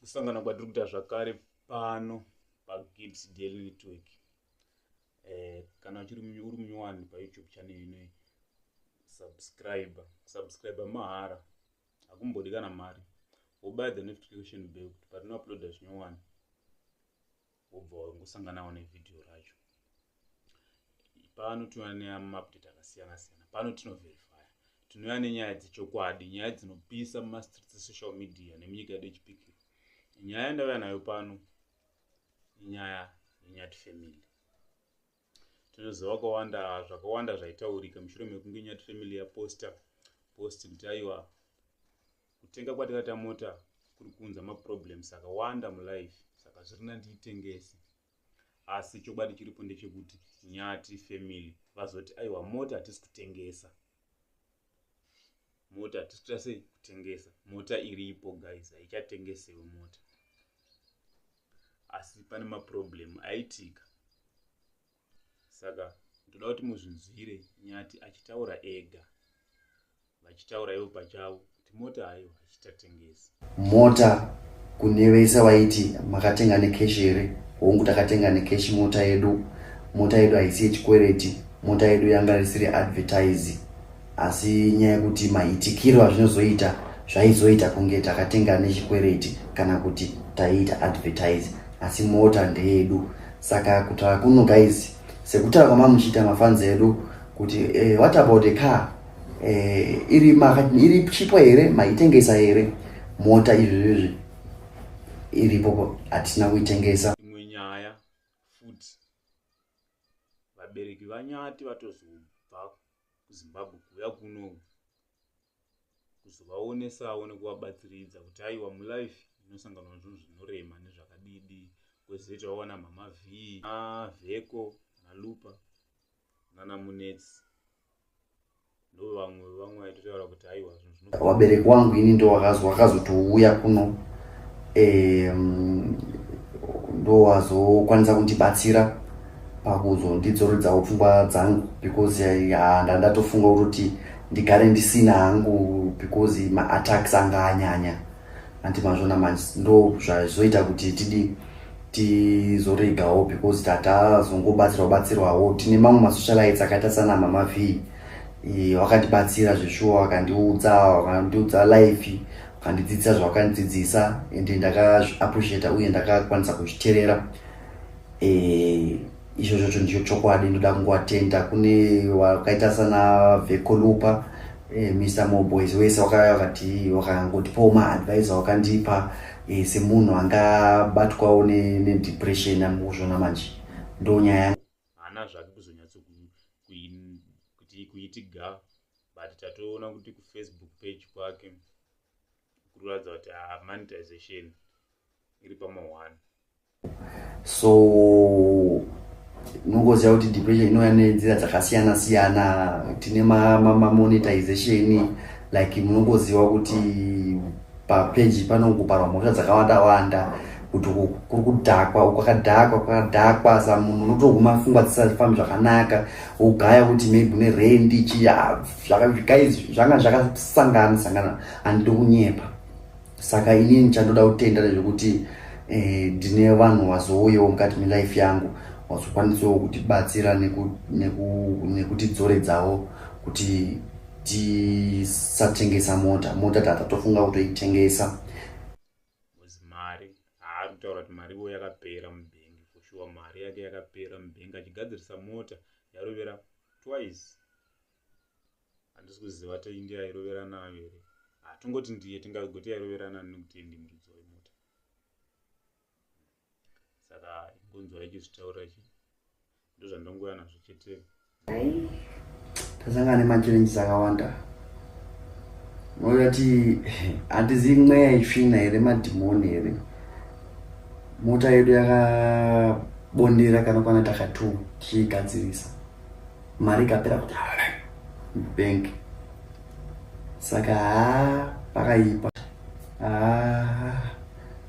kusangana kwatiri kuita zvakare pano pagids daily network eh, kana uchiri uri munyowani payoutube channel inoyi subscribe subscribe mahara hakumbodi kana mari wobuy the notification bell kuti patinouploada zvinyowani wobva wangosanganawo nevideo racho pano tinouya nemapdate akasiyana siyana pano tinoverifya tinouya nenyaya dzechokwadi nyaya dzinopisa mumastreets esocial media nemunyika yedu yechipikiro nyaya yandauya nayo pano inyaya yenyati family tinoziva kwawanda zvakawanda zvaitaurika mushure mekunge nyati family yaposta post kuti aiwa kutenga kwatakaita mota kuri kuunza maproblems akawanda mulife saka zvirina ndiitengese asi chokwadi chiripo ndechekuti nyati family vazoti aiwa mota hatisi kutengesa mota hatisi kuita sei kutengesa mota iripo guys haichatengesewe mota asi pane maproblem aitika saka ndoda kuti muzvinzwire nyati achitaura ega vachitaura ivo pachavo kuti mota hayo hachitatengesi mota kune vese vaiti makatenga nekeshi here hongu takatenga nekeshi mota yedu mota yedu haisi yechikwereti mota yedu yanga risiri advertise asi nyaya yekuti maitikiro azvinozoita zvaizoita kunge takatenga nechikwereti kana kuti taiita advertise asi mota ndeyedu saka kutaura kuno guys sekutaura kwamamuchiita mafanzi edu kuti eh, what about a car eh, iri, ma, iri chipo here maitengesa here mota izvizvizvi iripo hatina kuitengesa imwe nyaya futi vabereki vanyati vatozobva kuzimbabwe kuuya kuno kuzovawonesa one kuvabatsiridza kuti aiwa mulife inosanganwa nezvinhu zvinorema nezvakadidi kwezoita vawana mama v avheko nalupa nana munetsi ndovamwe vevamwe vaitotaura kuti aiwa zvinhu Wabereki wangu ini ndo wakazotouya kuno ndo wazokwanisa kundibatsira pakuzondidzorodzawo pfungwa dzangu because handa ndatofunga kuti ndigare ndisina hangu because maattacks anga anyanya anti mazvona manje ndo zvazoita kuti tidi tizoregawo because tatazongobatsirwa batsirwawo tine mamwe masocialites akaita sana mama vhii wakandibatsira zveshuwa wakandiudza wakandiudza life wakandidzidzisa zvawakandidzidzisa ende ndakazviappreciata uye ndakakwanisa kuzviterera e, izvo zvocho ndicho chokwadi ndoda kungoatenda kune wakaita sana vekolupa e, eh, mr moboys wese wakavati wakangotipawo maadvise wakandipa e, semunhu angabatwawo nedepression ne amukuzvona manje ndonyaya haana zvake kuzonyatso kuti kuiti ga but tatoona kuti kufacebook page kwake kuratidza kuti ah, monetization iri pamahwani so unongoziva kuti depression inouya nenzira dzakasiyana siyana tine mamonetization like munongoziva kuti papeji panongoparwa mhosva dzakawanda wanda kuti kuri kudhakwa kwakadhakwa kwakadhakwa sa munhu unotoguma fungwa dzisafambi zvakanaka wogaya kuti maybe une rendi chiya guys zvanga zvakasangana sangana andidi kunyepa saka inini chandoda kutenda nezvekuti eh, ndine vanhu wazouyewo mukati melife yangu wazokwanisawo kutibatsira nekutidzoredzawo kuti tisatengesa mota mota tata tofunga kutoitengesa mari haakutaura kuti mari ivo yakapera mubhengi foshuwa mari yake yakapera mubhengi achigadzirisa mota yarovera twice handisi kuziva tainge yairovera nayo here hatongoti ndiye tingagoti yairovera nani nekuti ndimuridzi wemota saka ingonzwa ichizvitaura ichi ndozvandongouya nazvo chete ai tasangana nemachallenges akawanda unoti hatizivi mweya itsvina here madhimoni here mota yedu yakabondera kana kwana takatu tichiigadzirisa mari ikapera kuti bank saka haa pakaipa haa